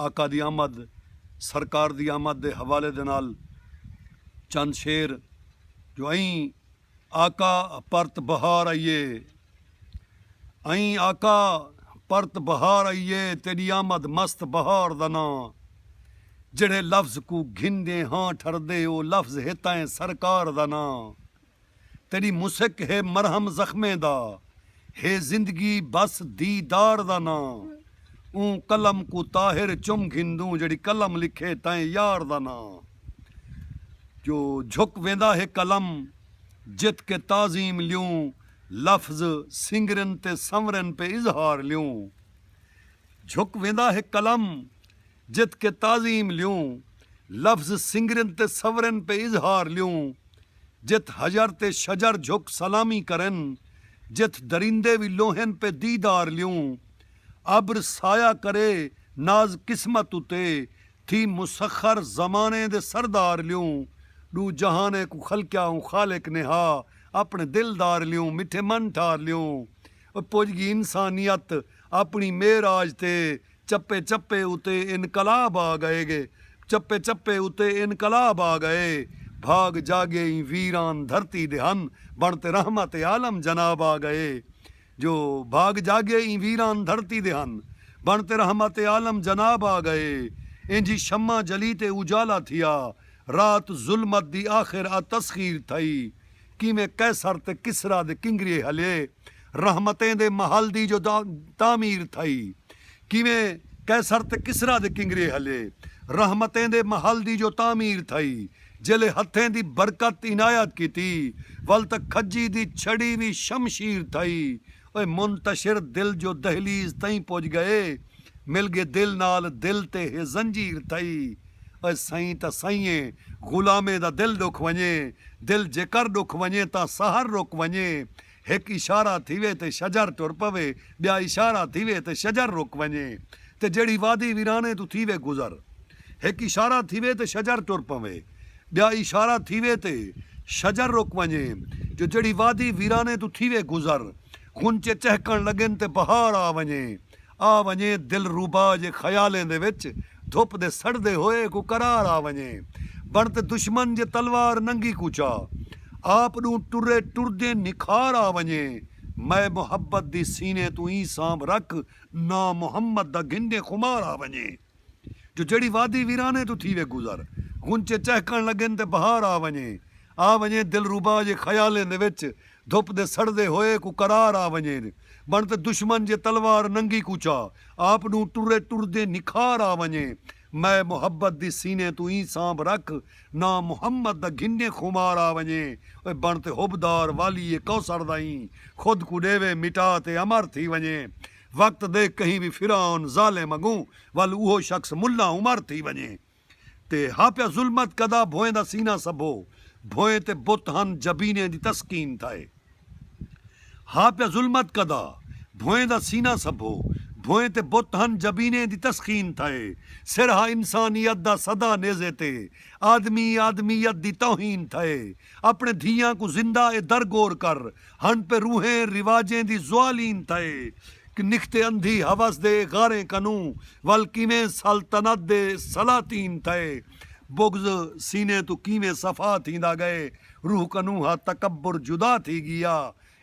آقا دی آمد، سرکار دی آمد دے حوالے دے نال چند شعر جو ائیں آقا پرت بہار آئی اے ائیں آقا پرت بہار آئی اے تیݙی آمد مست بہار دا ناں جیڑھے لفظ کوں گھندے ہاں ٹھردے او لفظ ہتائیں سرکار دا ناں۔ تیݙی مسک ہے مرہم زخمیں دا ہے زندگی بس دیدار دا ناں اوں قلم کوں طاہر چم گھندوں جیڑھی قلم لکھے تئیں یار دا ناں جو جھک ویندا ہے قلم جت کے تعظیم لیوں لفظ سنگرن تے سنورن پے اظہار لیوں جھک ویندا ہے قلم جت کے تعظیم لیوں لفظ سنگرن تے سورن پے اظہار لیوں جت حجر تے شجر جھک سلامی کرن جت درندے وی لوہن پے دیدار لیوں ابر سایہ کرے ناز قسمت اتے تھی مسخر زمانے دے سردار لیوں ڈو جہانے کوں خلقیا اوں خالق نے ہا اپنے دلدار لیوں مٹھے من ٹھار لیوں پج گی انسانیت اپنی معراج تے چپے چپے اتے انقلاب آ گئے گے چپے چپے اتے انقلاب آ گئے بھاگ جاگے ایں ویران دھرتی دے ہن بن تے رحمت عالم جناب آ گئے جو بھاگ جاگے ایں ویران دھرتی دے ہن بن تے رحمت عالم جناب آ گئے اینجھی شمع جلی تے اجالا تھیا رات ظلمت دی آخر آ تسخیر تھئی کیویں قیصر تے کسری دے کنگریے ہلے رحمتیں دے محل دی جو تعمیر تھئی کیویں قیصر تے کسری دے کنگریے ہلے رحمتیں دے محل دی جو تعمیر تھئی جیلھے ہتھیں دی برکت عنایت کیتی ول تاں کھجی دی چھڑی وی شمشیر تھئی اوہ منتشر دل جو دہلیز تئیں پج گئے مل گے دل نال دل تے ہے زنجیر تھئی اوہ سئیں تاں سئیںے غلامیں دا دل ڈکھ ونجے دل جیکر ڈکھ ونجے تاں سحر رک ونجے ہک اشارہ تھیوے تے شجر ٹر پوے بیا اشارہ تھیوے تے شجر رک ونجے تے جیڑھی وادی ویرانے توں تھیوے گزر ہک اشارہ تھیوے تے شجر ٹر پوے۔ ٻیا اشارہ تھیوے تے شجر رک ونڄے جو جیڑھی وادی ویرانے توں تھیوے گزر غنچے چہکݨ لڳن تے بہار آ ونڄے آ ونڄے دلروبا جے خیالیں دے وچ دھپ دے سڑدے ہوئے کوں قرار آ ونڄے بݨ تے دشمن جے تلوار ننگی کوں چا آپ ݙوں ٹرے ٹردیں نکھار آ ونڄے مئے محبت دی سینے توں ایں سانبھ رکھ ناں محمد دا گھنجے خمار آ ونڄے۔ جو جیڑھی وادی ویرانے توں تھیوے گزر۔ غنچے چہکݨ لڳن تے بہار آ ونڄے۔ آ ونڄے دلربا جے خیالیں دے وچ دھپ دے سڑدے ہوئے کوں قرار آ ونڄے۔ بݨ تے دشمن جے تلوار ننگی کوں چا آپ ݙوں ٹرے ٹردیں نکھار آ ونڄے۔ مئے محبت دی سینے توں ایں سانبھ رکھ ناں محمد دا گھنجیں خمار آ ونڄے۔ اوئے بݨ تے حب دار والیے کوثر دا ایں خود کوں ݙیوے مٹا تے امر تھی ونڄے۔ وقت دے کہیں وی فرعون، ظالم، اگوں ول اوہو شخص ملا عمر تھی ونڄے تے ہا پیا ظلمت کدا بھوئیں دا سینہ سبھو بھوئیں تے بت ہن جبینیں دی تسکین تھائے ہا پیا ظلمت کدا بھوئیں دا سینہ سبھو بھوئیں تے بت ہن جبینیں دی تسکین تھائے سر ہا انسانیت دا سدا نیزے تے آدمی آدمیت دی توہین تھائے اپݨے دھیاں کوں زندہ اے در گور کر ہن پہ روحیں رواجیں دی زوالین تھئے کہ نکھتے اندھی حوس دے غاریں کنوں ول کیویں سلطنت دے سلاطین تھئے بغض سینے توں کیویں صفا تھیندا گئے روح کنوں ہا تکبر جدا تھی گیا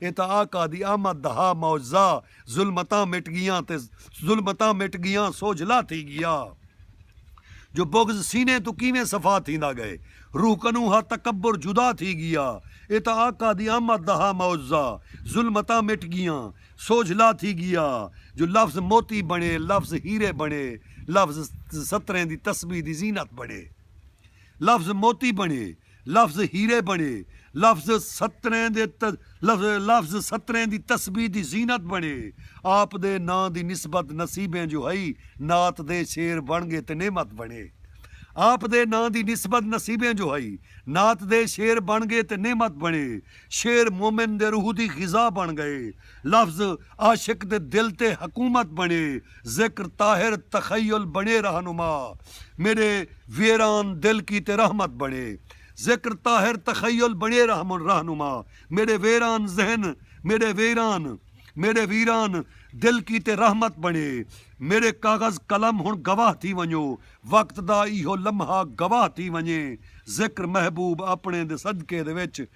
اے تاں آقا دی آمد دا ہا معجزہ ظلمتاں مٹ گیاں تے ظلمتاں مٹ گیاں سوجھلا تھی گیا جو بغض سینے توں کیویں صفا تھیندا گئے روح کنوں ہا تکبر جدا تھی گیا اے تاں آقا دی آمد دا ہا معزہ ظلمتاں مٹ گیاں سوجھلا تھی گیا جو لفظ موتی بݨے لفظ ہیرے بݨے لفظ ستریں دی تسبیح دی زینت بݨے لفظ موتی بݨے لفظ ہیرے بݨے، لفظ ستریں دے ت لفظ ستریں دی تسبیح دی زینت بݨے، آپ دے ناں دی نسبت نصیبیں جو ہئی، نعت دے شعر بݨ ڳے تے نعمت بݨے۔ آپ دے ناں دی نسبت نصیبیں جو ہئی، نعت دے شعر بݨ ڳے تے نعمت بݨے، شعر مومن دے روح دی غذا بݨ ڳئے، لفظ عاشق دے دل تے حکومت بݨے ذکر طاہر تخیل بݨے رہنما میݙے ویران دل کیتے رحمت بݨے ذکر طاہر تخیل بݨے رہنما میݙے ویران ذہن میݙے ویران میݙے ویران دل کیتے رحمت بݨے میݙے کاغذ قلم ہݨ گواہ تھی ونڄو وقت دا ایہو لمحہ گواہ تھی ونڄے ذکر محبوب آپݨے دے صدقے دے وچ